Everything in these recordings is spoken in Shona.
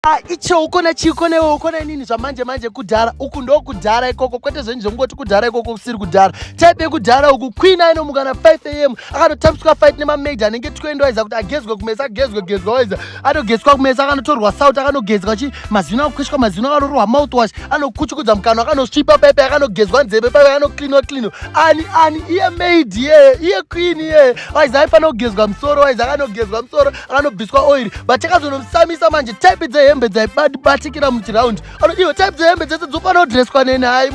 Ah, icho ukona chii kona iwe ukona inini zvamanje manje kudhara uku ndo kudhara ikoko kwete zvenyu zvekungoti kudhara ikoko kusiri kudhara type yekudhara uku queen aino mukana 5 am akanotambiswa fight nemamaid anenge twendo aiza kuti agezwe kumesa agezwe gezwa waiza anogezwa kumesa akanotorwa south akanogezwa chi mazino akukweshwa mazino akanorohwa mouthwash anokuchukudza mukano akanosvipa paipe akanogezwa nzeve paipe anocleanwa cleano ani ani iye maid iyeye iye queen iyeye waiza aifanira kugezwa musoro waiza akanogezwa musoro anobviswa oiri but takazonomusamisa manje type dzehembe dzaibatikira muchiraundi ano iwe type dzehembe dzese dzofanira kudreswa neni hai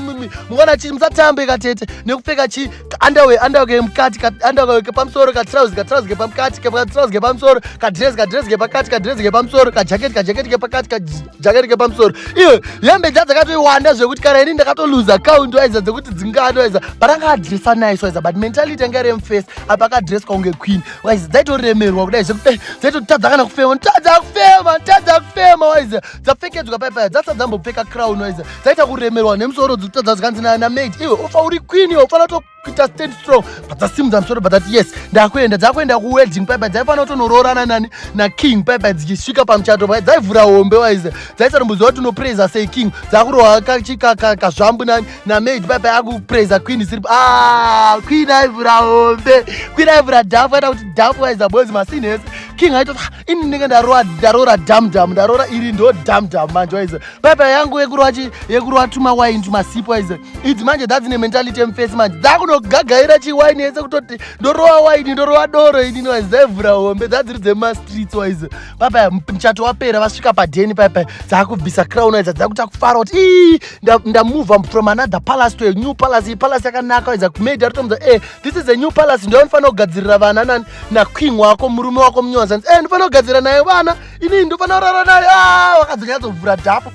mwana chii musatambe katete nekupfeka chii andawe andawe kemukati andawe kepamusoro katrausi katrausi kepamukati katrausi kepamusoro kadres kadres kepakati kadres kepamusoro kajaketi kajaketi kepakati kajaketi kepamusoro iwe hembe dza dzakatoiwanda zvekuti kana ini ndakatoluza account waiza dzekuti dzingano waiza but anga adresa nice waiza but mentality anga remface apa akadreswa kunge queen waizi dzaitoremerwa kudai zvekudai dzaitotadza kana kufema tadza kufema tadza kufema waizi dzapfekedzwa pai paya dzasati dzambopfeka crown waizi dzaita kuremerwa nemusoro dzikutadza zvikanzi namaid iwe ufa uri queen iwe ufana kutoita stand strong padzasimudza musoro padzati yes ndakuenda dzakuenda kuwedding pai paya dzaifana kutonoroorana nani naking pai paya dzichisvika pamuchato paya dzaivhura hombe waizi dzaisaromboziva kuti unopraiza sei king dzakurohwa kazvambu nani namaid baba yakupraiza queen isiri ah, queen aivhura hombe queen aivhura dhafu aita kuti dhafu waiza boys masini ese king aito ah, ini ndinenge ndaroa ndaroora damdam ndaroora iri ndo damdam manje waize baba yangu yekuroa chi yekuroa tuma wine tuma sipo waize idzi manje dzadzine mentality emface manje dzakunogagaira chi wine ese kutoti ndoroa wine ndoroa doro inini waize dzaivhura hombe dzadziri dzema streets waize baba mchato wapera vasvika padheni baba dzakubvisa crown waize dzakuta kufara kuti ii ndamuva nda from another palace to a new palace iyi palace yakanaka waidza kumaid aritomuza e eh, this is a new palace ndiyo anofanira kugadzirira vana nani naking wako murume wako munyowazanzi e eh, ndofanira kugadzirira naye vana inii ndofanira kurara naye ah, wakadzokera dzovhura dhafu